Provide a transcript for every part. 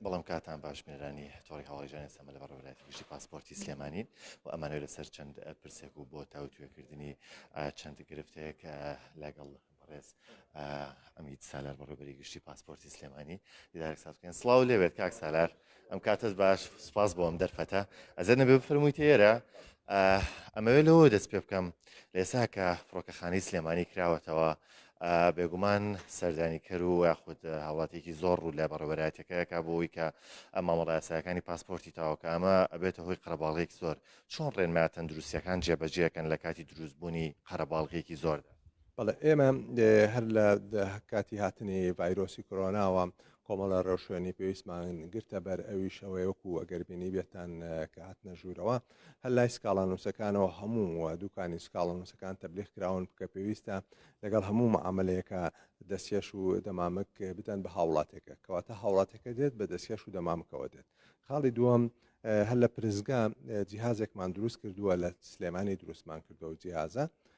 بەڵام کاتان باش بنرانی تۆڕی هەواڵیژان ئێسمە لە بەڕێوەلایەتی گشتی پاسپۆرتی سلێمانین و ئەمانەوە لەسەر چەند پرسێک و بۆ تاوتوێکردنی چەند گرفتەیەک لەگەڵ بەڕێز ئەمیت سالار بەڕێبەری گشتی پاسپۆرتی سلێمانی دیدارێک سازکەن سلااو لێوێت کاک سالار ئەم کاتەس باش سپاس بۆ ئەم دەرفەتە ئەزەر نەبێ بفەرموویتە ئێرە ئەمەوێت لەوە دەست پێ بکەم لێسا کە فڕۆکەخانی سلێمانی کراوەتەوە بێگومان سەردانیکەر و یاخود هاوڵاتێکی زۆر ڕوو لە بەڕێوەبەرایەتەکەیەکە بۆەوەی کە ئەمە مەڵایساکانی پاسپۆرتی تاوەکە ئەمە ئەبێتە هۆی قەرەباڵێک زۆر چۆن ڕێنما تەندروستیەکان جێبەجێکەن لە کاتی دروستبوونی قەرەباڵغێکی زۆردا بەڵێ ئێمە هەر لە کاتی هاتنی ڤایرۆسی کۆرۆناوە کۆمەڵە ڕێوشوێنی پێویستمان گرتە بەر ئەویش ئەوەی وەکو ئەگەر بینیبێتان کە هاتنە ژوورەوە هەر لای سکاڵانووسەکانەوە هەموو دوکانی سکاڵانووسەکان تەبلیغ کراون بکە پێویستە لەگەڵ هەموو معاملەیەکە دەستکێش و دەمامک بدەن بە هاوڵاتێکە کەواتە هاوڵاتەکە دێت بە دەستکێش و دەمامکەوە دێت خاڵی دووەم هەر لە پرزگا جیهازێکمان دروست کردووە لە سلێمانی دروستمان کردەوە جیازە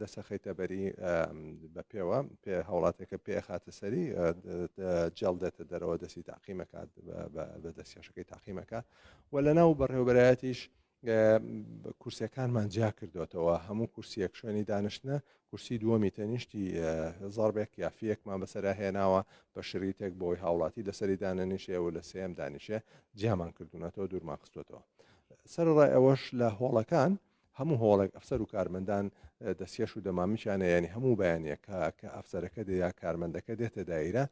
دەسەخەیتە بەری بە پێوە پێ هاوڵاتێکە پێ خاتە سەری جێڵ دێتە دەرەوە دەستی تاقیمەکات بە دەستکێشەکەی تاقیمەکە و لە ناو بەڕێوبەرایەتیش کورسەکانمان جیا کردوێتەوە هەموو کورسیەک شوێنی دانیشتە کورسی دووەمی تەنیشتی زاربێک یافیەکمان بەسرا هێناوە بە شریتێک بۆی هاوڵاتی لەسەری دانەنیشێ و لە سێم دانیشێ جیامان کردوونەتەوە دوورمان خستوەتەوە سەرڕای ئەوەش لە هۆڵەکان هەموو هۆڵێک ئەفسەر و کارمەندان دەستکێش و دەمامکیانە یانی هەموو بەیانەکە کە ئەفسەرەکە دێ یا کارمەندەکە دێتە دایرە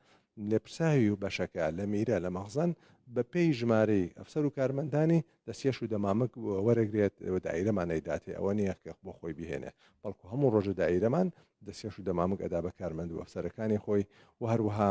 لێپرساوی و بەشەکە لە میرە لە مەخزن بە پێی ژمارەی ئەفسەر و کارمەندانی دەستکێش و دەمامک وەرەگرێت دایرەمانەی داتێ ئەوە نییە کە بۆ خۆی بهێنێ بەڵکو هەموو ڕۆژە دایرەمان دەستکێش و دەمامک ئەدا بە کارمەند و ئەفسەرەکانی خۆی و هەروەها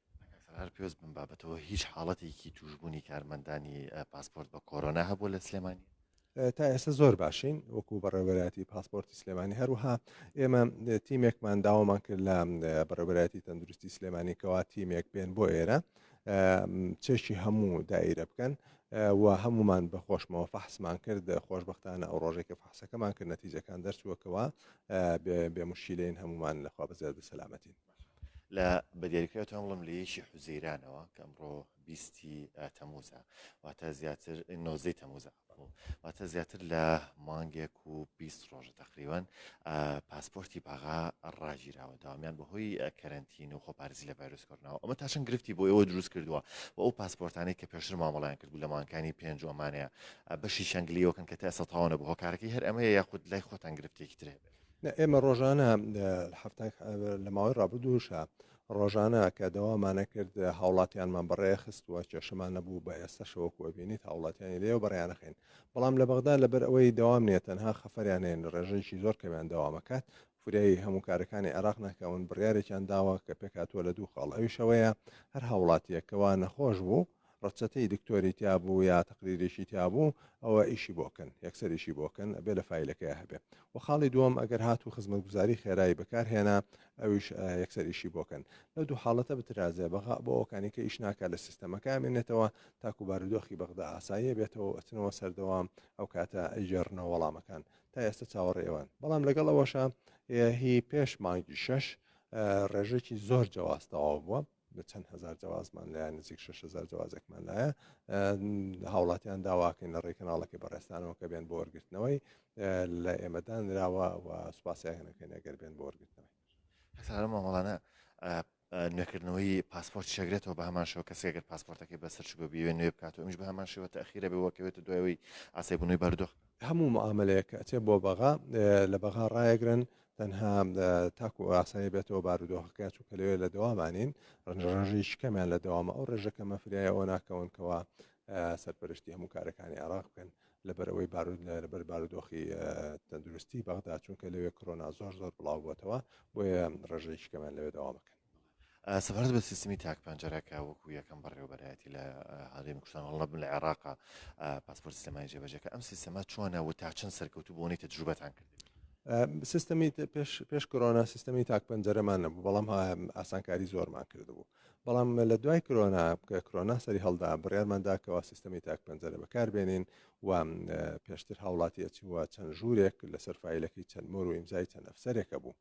کاک سالار هەر پێوست بم بابەتەوە هیچ حاڵەتێکی توشبوونی کارمەندانی پاسپۆرت بە کۆرۆنا هەبوو لە سلێمانی تا ئێستا زۆر باشین وەکو بەڕێوەبەراتی پاسپۆرتی سلێمانی هەروها ئێمە تیمێکمان داوامان کرد لە بەڕێبەراتی تەندروستی سلێمانی کەوا تیمێک بێن بۆ ئێرە چێکی هەموو دایرە بکەن و هەمومان بە خۆشمەوە فەحسمان کرد خۆشببختانە ئەو ڕۆژێکە فحسەکەمان کرد نەتیجەکان دەرچووەکەوە بێ مشیلین هەمومان لەخوا بەزیاد سەلامەتین لە بەدیاریکراوی تۆم بڵم لە یەکی حوزەیرانەوە کە ئەمڕۆ بیستی تەموزە واتە زیاتر نۆزەی تەموزە واتە زیاتر لە مانگێک و بیست ڕۆژە تقریوان پاسپۆرتی باغا ڕاگیراوە داوامیان بەهۆی کەرنتین و خۆپارزی لە ڤایرۆس کردنەوە ئەمە تاشن گرفتی بۆ ئەوە دروست کردووە و ئەو پاسپۆرتانی کە پێشتر مامەڵیان کرد بوو لە مانکانی پێنج ئەمانەیە بەشی شنگلیەوەکەن کە تا سەتاوانە بۆ هۆکارەکەی هەر ئەمەیە یاخود لای خۆتان گرفتێکی ترێ بێت ئێمە ڕۆژانە هەفتان لە ماوەی ڕابردووشە ڕۆژانە کە دەوامانە کرد هاوڵاتیانمان بەڕێ خستووە کێشەمان نەبوو بە ئێستا شەوەکوەبینیت هاوڵاتیانی لێو بەڕیانەخین بەڵام لە بەغدا لەبەر ئەوەی داوام نیە تەنها خەفەریانێن ڕێژەیەکی زۆر کەمیان داوامەکات فریایی هەموو کارەکانی عێراق ناکەون بڕیارێکیان داوە کە پێکاتوە لە دوو خاڵ ئەوی شەوەیە هەر هاوڵاتیەکەوە نەخۆش بوو ڕەچەتەی دکتۆری تیابوو یا تەقریریشی تیابوو ئەوە ئیشی بۆ کەن یەکسەر ئیشی بۆ کەن ئەبێ لە فایلەکەیا هەبێ وە خاڵی دووەم ئەگەر هاتوو خزمەتگوزاری خێرای بەکار هێنا ئەویش یەکسەر ئیشی بۆ کەن لەو دوو حاڵەتە بترازێ بەغا بۆ ئەوکانی کە ئیش ناکا لە سیستەمەکە ئەمێنێتەوە تاکو بارودۆخی بەغدا ئاساییە بێتەوە و ئەچنەوە سەردەوام ئەو کاتە ئەیگێڕنەوە وەڵامەکان تا ئێستا چاوەڕێ ئێوەن بەڵام لەگەڵ ئەوەشە هی پێش مانگی شەش ڕێژێکی زۆر جیاواز تەواو بووە بە چەند هەزار جوازمان لایە نزیک 6 هەزار جوازێکمان لایە هاوڵاتیان داواکەین لە ڕێی کەناڵەکە بەڕێستانەوە کە بێن بۆ وەرگرتنەوەی لە ئێمەدان نراوە و سوپاسیانەکەن ئەگەر بێن بۆ وەرگرتنەوەی هەسارە مامەڵانە نوێکردنەوەی پاسپۆرت شەگرێتەوە بە هەمان شەوە کەسی گەر پاسپۆرتەکەی بەسەر شگۆ بیوێ نوێ بکات و ئەمش بە هەمان شێوە تاخیرە بێ وەکەوێت و دوایەوەی ئاسای بنووی بەردۆخ هەموو معاملەیە کە ئەچێ بۆ بەغا لە بەغا ڕایەگرن تەنها تاکو ئاسایی بێتەوە بارودۆخەکە چونکە لەوێ لە دەوامانین ڕژڕژیش کەمیان لە دەوامە ئەو ڕێژەکە مەفریایە ئەو ناکەونکەوە سەرپەرشتی هەموو کارەکانی عراق بکەن لەبەرەوەی بارود لەبەر بارودۆخی تەندروستی بەغدا چونکە لەوێ کۆنا زۆر زۆر بڵاو بووتەوە بۆیە ڕژەیشکەمان لەوێ داوامەکەن سەبارەت بە سیستمی تاک پەنجەرە کە وەکو یەکەم بەڕێوەبەرایەتی لە هەرێمی کوردستان هەڵە بن لە عێراقا پاسپۆرت سلێمانی جێبەجەکە ئەم سیستەمە چۆنە و تا چەند سەرکەوتو بۆنی تەجروبەتان کرد سیستەمی پێش پێش کرۆنا سیستەمی تاک پەنجەرەمان نەبوو بەڵام ئاسانکاری زۆرمان کردبوو بەڵام لە دوای کرۆنا بکە کرۆنا سەری هەڵدا بڕیارماندا کەوا سیستەمی تاک پەنجەرە بەکاربێنین و پێشتر هاوڵاتیەتی وە چەند ژوورێک لەسەر فیلەکەی چەند مۆر و ئیمزای چەند ئەفسەرێکە بوو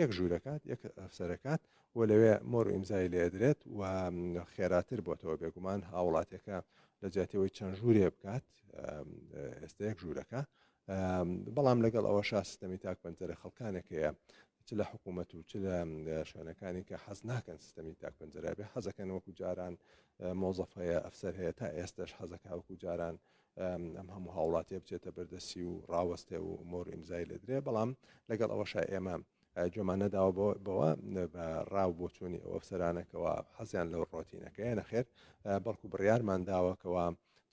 یەک ژوورەکات یەک ئەفسەرەکات و لەوێ مۆر و ئیمزای لێدرێت و خێراتر بۆتەوە بێگومان هاوڵاتیەکە لە جاتەوەی چەند ژوورێ بکات ئێستا یەک ژوورەکە بەڵام لەگەڵ ئەوە شا سیستەمی تاک پەنجەرە خەڵکانێک هەیە چ لە حکوومەت و چ لە شوێنەکانی کە حەز ناکەن سیستەمی تاک پەنجەرابێ حەزەکەن وەکو جاران مۆزەف هەیە ئەفسەر هەیە تا ئێستش حەزەکە وەکو جاران ئەم هەموو هاوڵاتیە بچێتە بەردەسی و ڕاوەستێ و مۆر ئیمزای لە درێ بەڵام لەگەڵ ئەوەشا ئێمە جۆمان نەداوە بەوە بە ڕاو بۆچوونی ئەو ئەفسەرانەکەەوە حەزیان لەو ڕۆتینەکەیە نەخێت بەڵکو بڕیارمان داوەکەەوە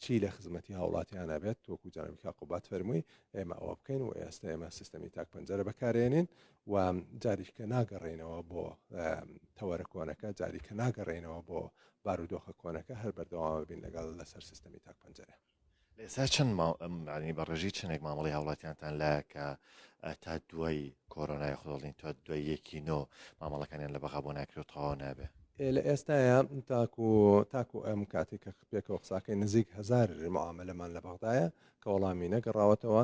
چی لە خزمەتی هاوڵاتیانە بێت تۆکو جانبکە قوبات فەرمووی ئێمە ئەوە بکەین و ئێستا ئێمە سیستەمی تاک پەنجەرە بەکارێنین و جاریکە ناگەڕێنەوە بۆ تەوەرە کۆنەکە جاریکە ناگەڕێنەوە بۆ بارودۆخە کۆنەکە هەر بەردەوامە بین لەگەڵ لەسەر سیستەمی تاک پەنجەرە. لە ئێستا چەند ماو ئەمانی بە ڕێژەی چەندێک مامەڵی هاوڵاتیانتان لایە کە تا دوای کۆرۆنای خۆڵین تا دوای یەکی نۆ مامەڵەکانیان لە بەغا بۆ ناکرێت و تەواو نابێ لە ئێستاە تاکو تاکو ئەم کاتی کە پێکەوە قساکەی نزیک هزار معاملەمان لە بەغدایە کە وەڵامی نەگەڕاوەتەوە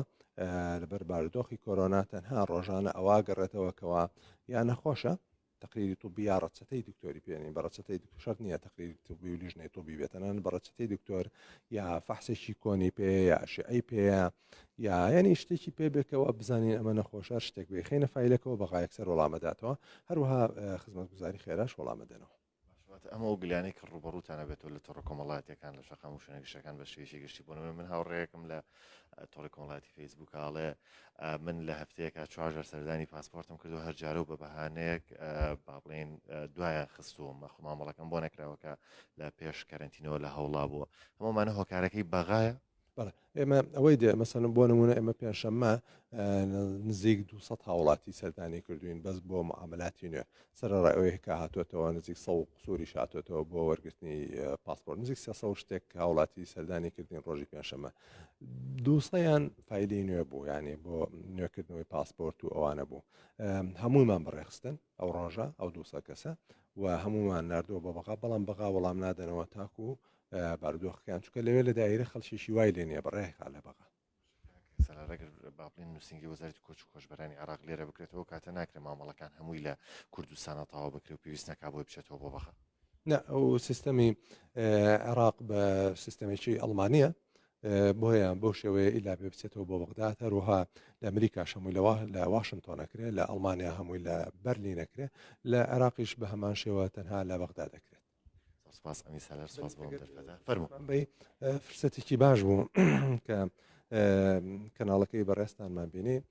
لەبەر بارودۆخی کۆرۆنا تەنها ڕۆژانە ئەوە گەڕێتەوە کەەوە یان نەخۆشە تەقریری طوبی یا ڕەچەتەی دکتۆری پێ نین بە ڕەچەتەی دکتۆر شەرت نییە تەقریری طوبی و لیژنەی طوبی بێت تەنانەت بە ڕەچەتەی دکتۆر یا فەحسێکی کۆنی پێ یا ئەشعەی پێ یا یعنی شتێکی پێ بێکەوە بزانین ئەمە نەخۆشە شتێک بێ خەینە فایلەکەوە بەغایەکسەر وەڵامەداتەوە هەروەها خزمەتگوزاری خێراش وەڵامەدەنەوە باشە واتە ئەم ئەو گلانەی کە ڕوبەڕوتان ئەبێتەوە لە تۆڕە کۆمەڵاتیەکان لە شەقام و شوێنە گشتەکان بە شێوەیەکی گشتی بۆ نمونە من هاوڕێیەکم لە تۆڕی کۆمەڵاتی فەیسبووک ئاڵێ من لە هەفتەیەکە چوارجار سەردانی پاسپۆرتم کردو هەر جارە و بە بەهانەیەک با بڵێن دوایە خستووە مەخ مامەڵەکەم بۆ نەکراوەکە لە پێش کەرنتینەوە لە هەوڵا بووە هەمومانە هۆکارەکەی بەغایە بەڵێ ئێمە ئەوەی دێ مەسەن بۆ نمونە ئێمە پێنجشەممە نزیک 200 هاوڵاتی سەردانی کردوین بەس بۆ معاملاتی نوێ سەرڕای ئەوەیە کە هاتوێتەوە نزیک سە قسووری شاتێتەوە بۆ وەرگرتنی پاسپۆر نزیک سە شتێک هاوڵاتی سەردانی کردین ڕۆژی پێنجشەممە دووسەیان فیلی نوێ بوو یانێ بۆ نوێکردنەوەی پاسپۆرت و ئەوانە بوو هەموویمان بەڕێخستن ئەو ڕۆژە ئەو دوو سەد کەسە و هەموومان ناردووە بە بەغا بەڵام بەغا وەڵام نادەنەوە تاکو و بارودۆخەکان چکە لەوێ لە دایرە خەڵکیشی وای لێ نیە بەڕێکا لە بەغا سەرەڕێگر بابلین نووسنگی وەزارتی کۆچ و کۆشبەرانی عراق لێرە بکرێتەوە کاتە ناکرێت مامەڵەکان هەمووی لە کوردستانە تاوا بکرێت و پێویست ناکا بۆی بچێتەوە بۆ بەغا نە ئەو سیستەمی عێراق بە سیستەمێکی ئەڵمانە بۆیە بەو شێوەیە ئیلا بێ بچێتەوە بۆ بەغداد هەروها لە ئەمریکاش هەمووی لەوە لە واشنگتۆنەکرێت لە ئەڵمانیا هەمووی لە بەرلی نەکرێت لە عێراقیش بە هەمان شێوە تەنها لە بەغدا دەکرێت سپاس ئەمی سالار سپاس بۆ دەرفەدا فەرمو فرسەتێکی باش بوو کە کەناڵەکەی بەڕێستانمان بینی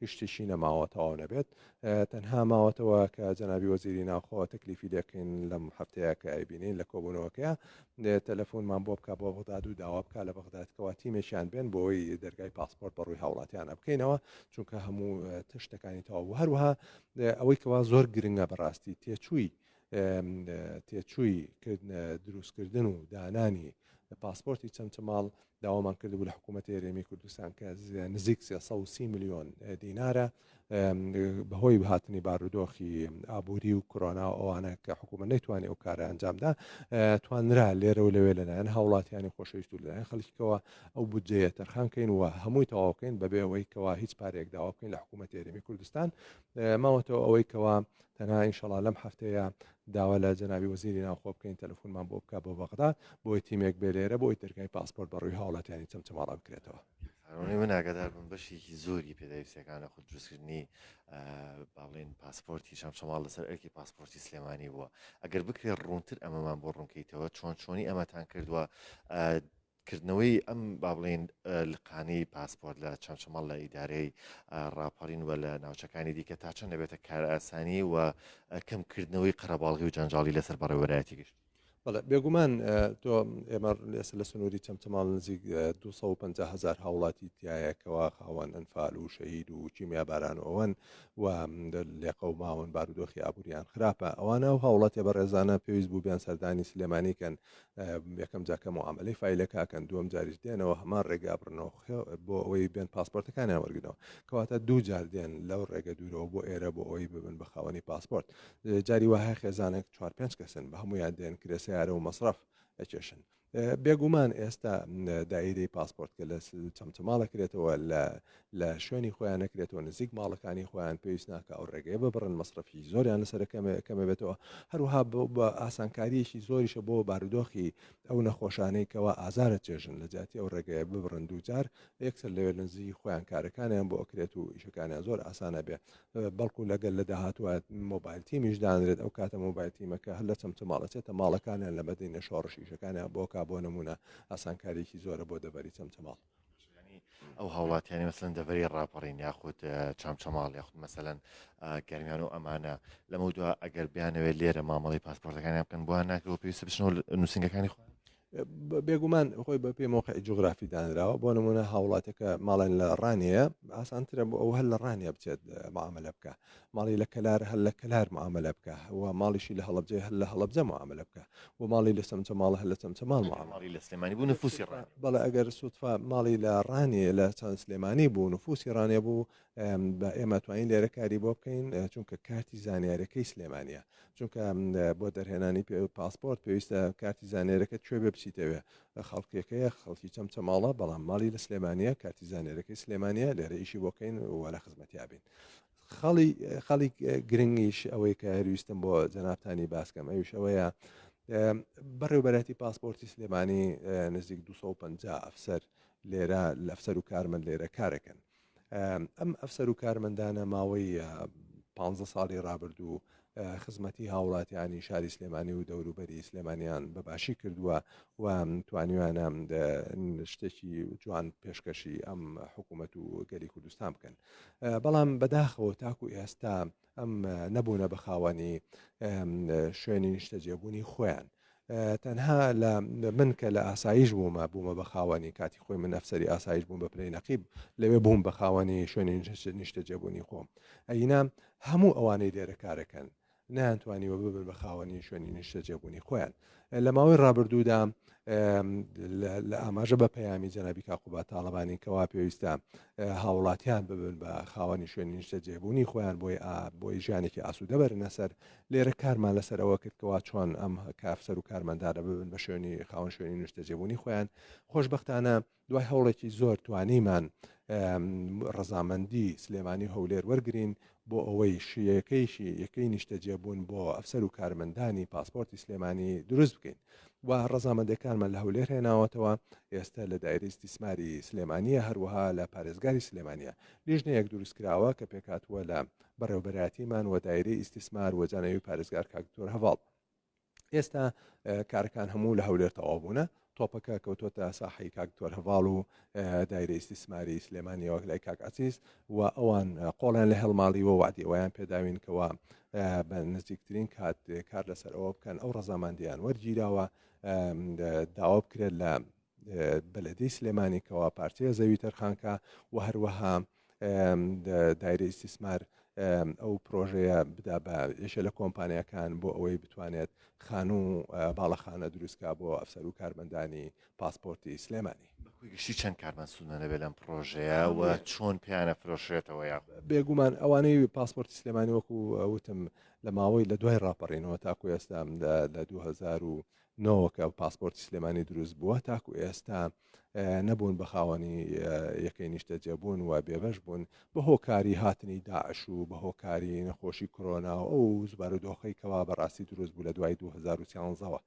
هیچ شتێکی نەماوە تەواو نەبێت تەنها ماوەتەوە کە جەنابی وەزیری ناوخۆ تەکلیفی لێکەین لەم هەفتەیە کە ئەیبینین لە کۆبوونەوەکەیە تەلەفۆنمان بۆ بکە بۆ بەغداد و داوا بکە لە بەغدادکەوە تیمێکیان بێن بۆی دەرگای پاسپۆرت بە ڕووی هاوڵاتیانە بکەینەوە چونکە هەموو تشتەکانی تەواو هەروها ئەوەی کەوا زۆر گرنگە بەڕاستی تێچووی تێچووی دروستکردن و دانانی پاسپۆرتی چەمچەماڵ داوامان کردبوو لە حکوومەت هێرێمی کوردستان کە نزیک 330 میلیۆن دینارە بەهۆی هاتنی بارودۆخی ئابووری و کۆنا و ئەوانە کە حکوومە نەیتوانانی ئەو کارە ئەنجامدا توانرا لێرە و لەوێ لەلایەن هاوڵاتیانی خۆشەویست و لەلایەن خەڵکیکەوە ئەو بودجەیە تەرخان کەین و هەمووی تەواوکەین بەبێ ئەوەی کەوا هیچ پارێک داواکەین لە حکوومەت هێرێمی کوردستان ماوەتەوە ئەوەی کەوا تەنها ئینشەڵا لەم هەفتەیە داوا لە جەنابی وەزیری ناوخۆ بکەین تەلەفونمان بۆ بکە بۆ بەغدا بۆی تیمێک بێ لێرە بۆی دەرگای پاسپۆرت بە ڕووی هاوڵاتیانی چەمچەماڵا بکرێتەوە ئەوەی من ئاگادار بم بەشێکی زۆری پێداویستەکانە خود دروستکردنی باڵێن پاسپۆرتی شەمشەماڵ لەسەر ئەرکی پاسپۆرتی سلێمانی بووە ئەگەر بکرێت ڕوونتر ئەمەمان بۆ ڕوونکەیتەوە چۆن چۆنی ئەمەتان کردووە کردنەوەی ئەم با بڵێن لقانەی پاسپۆرت لە چەمچەمەڵ لە ئیدارەی ڕاپەڕین و لە ناوچەکانی دیکە تا چەند دەبێتە کارئاسانی و کەمکردنەوەی قەرەباڵغی و جەنجاڵی لەسەر بەڕێوەرایەتی گشت بەڵێ بێگومان تۆ ئێمە لێسە لە سنووری چەمچەماڵ نزیک 250 هزار هاوڵاتی تایەکەوە خاوەن ئەنفال و شەید و کیمیا باران و ئەوەن و لێقە و ماون بارودۆخی ئابووریان خراپە ئەوانە و هاوڵاتێ بە ڕێزانە پێویست بوو بیان سەردانی سلێمانیکەن یەکەم جار کە معاملەی فایلەکە ئەکەن دووەم جاریش دێنەوە هەمان ڕێگا بڕنەوە بۆ ئەوەی بێن پاسپۆرتەکانیان وەرگنەوە کەواتە دوو جار دێن لەو ڕێگە دوورەوە بۆ ئێرە بۆ ئەوەی ببن بە خاوەنی پاسپۆرت جاری وهای خێزانێک چوار پێنج کەسن بە هەمویان دێن کرێ سیارە و مەصرف ئەکێشن بێگومان ئێستا دایرەی پاسپۆرت کە لە چەمچەماڵە کرێتەوە لە لە شوێنی خۆیان نەکرێتەوە نزیک ماڵەکانی خۆیان پێویست ناکە ئەو ڕێگەیە ببڕن مەصرفی زۆریان لەسەر کەمێ بێتەوە هەروها بە ئاسانکاریەکی زۆریشە بۆ بارودۆخی ئەو نەخۆشانەی کەوا ئازارە چێژن لە جیاتی ئەو ڕێگەیە ببڕن دووجار یەکسەر لەوێ نزی خۆیان کارەکانیان بۆ ئەکرێت و ئیشەکانیان زۆر ئاسانە بێ بەڵکو لەگەل لە داهاتوە مۆبایل تیمیش دانرێت ئەو کاتە مۆبایل تیمەکە هەر لە چەمچە ماڵەچێتە ماڵەکانیان لە بەدەینە شۆڕشیشەکانیان بۆکە بۆ نمونە ئاسانکاریکی زۆرە بۆ دەبەری چەمچەماڵ یانی ئەو هاوڵاتیانی مەسەن دەڤری ڕاپەڕین یاخود چامچەماڵ یاخود مەسەەن گەرمیان و ئەمانە لەمە دو ئەگەر بیانەوێت لێرە مامەڵی پاسپۆرتەکانیان بکەن بۆیان ناکەەوە پێویست بچنەوە نووسنگەکانی خۆیان بێگومان خۆی بە پێی مۆقع جوگرافی دانراوە بۆ نمونە هاوڵاتەکە ماڵێن لە ڕانەیە ئاسانترە بۆ ئەو هەر لە ڕانە بچێت معاملە بکە ماڵی لە کەلار هەر لە کەلار معاملە بکە و ماڵیشی لە هەڵبجەی هەر لە هەڵبجە معاملە بکە و ماڵی لە سەمچە ماڵە هەر لە چەمچە ماڵ ماڵی لە سلێمانی بوو نفوسی ڕان بەڵێ ئەگەر سوتفا ماڵی لە ڕانی لە چەند سلێمانی بوو نفوسی ڕانێ بوو بە ئێمە توانین لێرە کاری بۆ بکەین چونکە کارتی زانیارەکەی سلێمانە چونکە بۆ دەرهێنانی پێ پاسپۆرت پێویستە کارتی زانێرەکە کوێ بێ بچیتەوێ خەڵکیەکەیە خەڵکی چەمچە ماڵە بەڵام ماڵی لە سلێمانە کارتی زانێرەکەی سلێمانە لێرە ئیشی بۆکەین وەرە خزمەتیابین خەڵی خەڵی گرنگیش ئەوەی کە هەرویستم بۆ جەنابتانی باسکەم ئەوش ئەوەیە بەڕێوبەرەتی پاسپۆرتی سلێمانی نزیک 250 ئەفسەر لێرە لەفسەر و کارمەند لێرە کارەکەن ئەم ئەفسەر و کارمەندانە ماوەی پ ساڵی رابردوو خزمەتی هاوڵاتیانی شاری سلێمانی و دەوروبەری سلێمانیان بەباشی کردووە و توانیویانە شتێکی جوان پێشکەشی ئەم حکوومەت و گەلی کوردستان بکەن بەڵام بەداخەوە تاکو ئێستا ئەم نەبوونە بە خاوەنی شوێنی نیشتەجێبوونی خۆیان تەنها لە من کە لە ئاسایش بوومە بوومە بە خاوەنی کاتی خۆی من ئەفسری ئاسایش بووم بە پلەی نەقیب لەوێ بووم بە خاوەنی شوێنی نیشتە جێبوونی خۆم ئەینا هەموو ئەوانەی لێرە کارەکەن نەیانتوانیوە ببن بە خاوەنی شوێنی نیشتە جێبوونی خۆیان لە ماوەی ڕابردوودا لە ئاماژە بە پەیامی جەنابی کاقوبا تاالبانی کەوا پێویستە هاوڵاتیان ببن بە خاوەنی شوێنی نیشتە جێبوونی خۆیان بۆی بۆی ژیانێکی ئاسوودەبەرنەسەر لێرە کارمان لەسەر ئەوە کرد کەوا چۆن ئەم کافسەر و کارمەندانە ببن بە شوێنی خاون شوێنی نیشتەجێبوونی خۆیان خۆشببختانە دوای هەوڵێکی زۆر توانیمان ڕەزامەندی سلێمانی هەولێر وەرگین بۆ ئەوەی شیەکەیشی یەکەی نیشتەجێبوون بۆ ئەفسەر و کارمەندانی پاسپۆرتی سلێمانی دروست بکەین و ڕەزامەندەکانمان لە هەولێر هێناوەتەوە ئێستا لە دایری دیسماری سلێمانە هەروەها لە پارێزگاری سلێمانە لیژنەیەک دروستکراوە کە پێکاتوە لە بەڕێوەبەرایەتیمان وەدایرەی ئیستیسمار وەجانەوی پارێزگار کاک دکتۆر هەڤاڵ ئێستا کارەکان هەموو لە هەولێر تەوابوونە تۆپەکە کەوتۆتە ساحی کاک دکتۆر هەڤاڵ و دایرە ئیسیسماری سلێمانی وەک لای کاک عزیز و ئەوان قۆڵیان لە هەڵماڵی و وادیوەیان پێداوین کەەوە بە نزیکترین کات کار لەسەر ئەوە بکەن ئەو ڕەزاماندیان وەرگیراوە داوا بکرێت لە بەلەدی سلێمانی کەەوە پارچەیە زەوی تەرخانکە و هەروەها دایرە ئیسیسمار ئەو پرۆژەیە بدا بە یەشە لە کۆمپانیەکان بۆ ئەوەی بتوانێت خانوو باڵەخانە دروستکە بۆ ئەفسەر و کارمەندانی پاسپۆرتی سلێمانی گشتی چەند کارمان سوودمەەبێ لەم پرۆژەیە و چۆن پیانە فرۆشێتەوە یا بێگومان ئەوانەی پاسپۆرتی سلێمانی وەکو وتم لە ماوەی لە دوای ڕاپەڕینەوە تاکو ئێستا لە 2009 کە پاسپۆرتی سلێمانی دروست بووە تاکو ئێستا نەبوون بە خاوەنی یەکەی نیشتەجێبوون و بێبەش بوون بە هۆکاری هاتنی داعش و بە هۆکاری نەخۆشی کۆرۆنا و ئەو زبار و دۆخەی کەوا بەڕاستی دروست بوو لە دوای 2013ەوە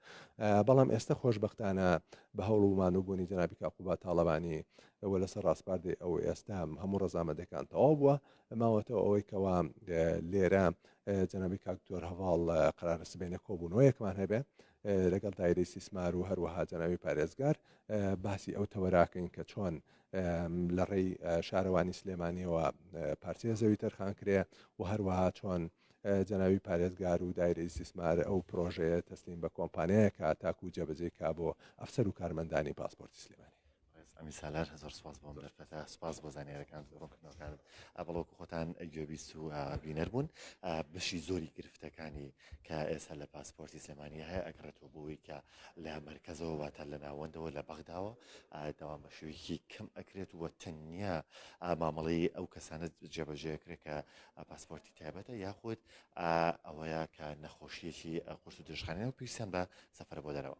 بەڵام ئێستا خۆشببختانە بە هەوڵ و مانوبوونی جنابی کاقوبا تاالبانی ئەوە لەسەر ڕاستپاردەی ئەو ئێستا هەموو ڕزامەدەکان تەواو بووە ماوەتەوە ئەوەی کەوا لێرە جنابی کاکتۆر هەواڵ قرارە سبێنە کۆبوونەوەیەکمان هەبێ لەگەڵ دایرەی استیسمار و هەروەها جەنابی پارێزگار باسی ئەو تەوەراکەین کە چۆن لە ڕێی شارەوانی سلێمانیەوە پارچەیە زەوی تەرخان کرێ و هەروەها چۆن جەناوی پارێزگار و دایرە ئیسیسمار ئەو پرۆژەیە تەسلیم بە کۆمپانیایەکە تاکو جەبەجێ کا بۆ ئەفسەر و کارمەندانی پاسپۆرتی سلێمانی بەڕێز ئەمین سالار زۆر سپاس بۆم دەرفەتە سپاس بۆ زانیارەکانت و ڕوونکردنەوەکانت بەڵۆک خۆتان گوێبیست و بینەر بوون بەشی زۆری گرفتەکانی کە ئێستا لە پاسپۆرتی سلێمانی هەیە ئەگرێتەوە بۆی کە لە مرکزەوە واتە لە ناوەندەوە لە بەغداوە داوام بە شوێکی کەم ئەکرێت وە تەنیا مامەڵەی ئەو کەسانە جێبەجێکرێت کە پاسپۆرتی تایبەتە یاخود ئەوەیە کە نەخۆشیەکی قورس و درشخانە و پیسیان بە سەفر بۆ دەرەوە